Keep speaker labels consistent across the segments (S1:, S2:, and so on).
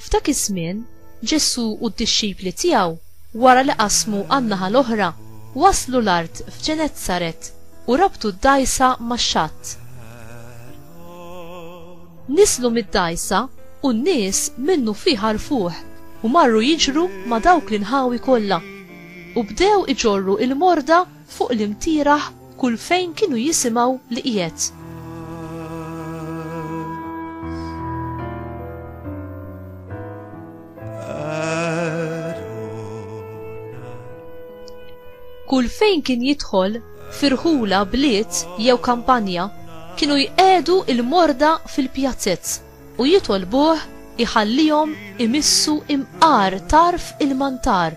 S1: F'dak iż-żmien, Ġesù u d-dixxipli tiegħu, wara li qasmu għan-naħa l-oħra, waslu l-art f'Ġenezzaret u rabtu d-dgħajsa max-xatt. Niżlu mid-dgħajsa u n-nies minnufih għarfuh u marru jiġru ma' dawk l-inħawi kollha, u bdew iġorru l-morda fuq l-imtieraħ kull fejn kienu jisimgħu li qiegħed. Kull fejn kien jidħol firħula bliet jew kampanja kienu jqedu il-morda fil-pjazzez u jitolbuh iħallihom imissu imqar tarf il-mantar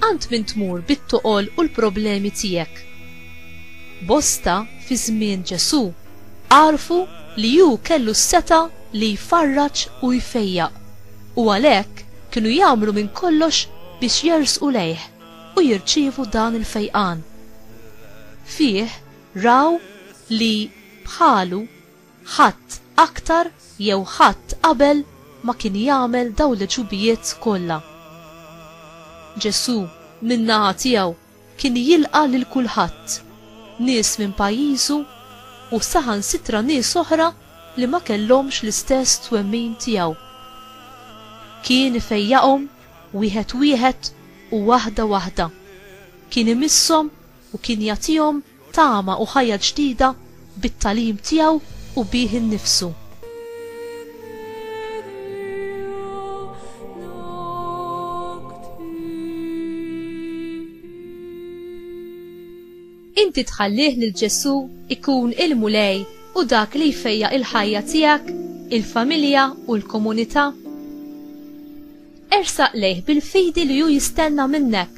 S1: Għand min tmur bit-toqol u l-problemi tiegħek? Bosta fi żmien Ġesù għarfu li hu kellu s-setgħa li jfarraġ u jfejjaq, u għalhekk kienu jagħmlu minn kollox biex jersqu lejh u jirċievu dan il-fejqan. Fih raw li, bħalu, Ħadd aktar jew ħadd qabel ma kien jagħmel dawn l-għeġubijiet kollha. Ġesù, min-naħa tiegħu, kien jilqa' lil kulħadd, nies minn pajjiżu u saħansitra nies oħra li ma kellhomx l-istess twemmin tiegħu. Kien ifejjaqhom wieħed wieħed u waħda waħda. Kien imisshom u kien jagħtihom tama u ħajja ġdida bit-tagħlim tiegħu u bih innifsu. Inti tħallih lil Ġesù ikun il-Mulej u dak li jfejja il-ħajja tiegħek, il-familja u l-komunità? Ersaq lejh bil-fidi li hu jistenna minnek.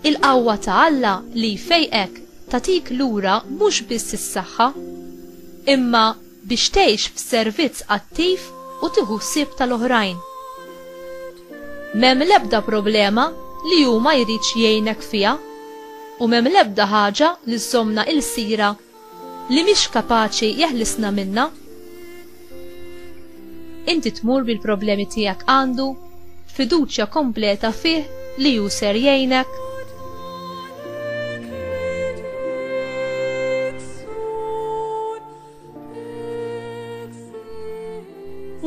S1: Il-qawwa ta' Alla li jfejqek tagħtik lura mhux biss is-saħħa, imma biex tgħix f'servizz attiv u tieħu ħsieb tal-oħrajn. M'hemm l-ebda problema li hu ma jridx jgħinek fiha, u m'hemm l-ebda ħaġa li żżommna ilsira Li mhix kapaċi jeħlisna minnha? Inti tmur bil-problemi tiegħek għandu, b'fiduċja kompleta fih li hu ser jgħinek?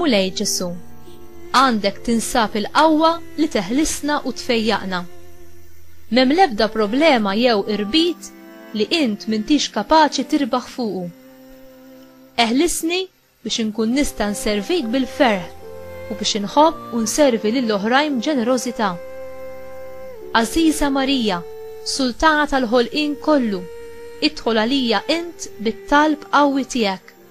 S1: Mulej Ġesu, għandek tinsab il-qawwa li teħlisna u tfejjaqna. Mem lebda problema jew irbit li int m'intix kapaċi tirbaħ fuqu. Eħlisni biex inkun nista' nservik bil-ferħ u biex inħobb u nservi lil oħrajn b'ġenerożità. Għażiża Marija, Sultana tal-ħolqien kollu, idħol għalija int bit-talb qawwi tiegħek.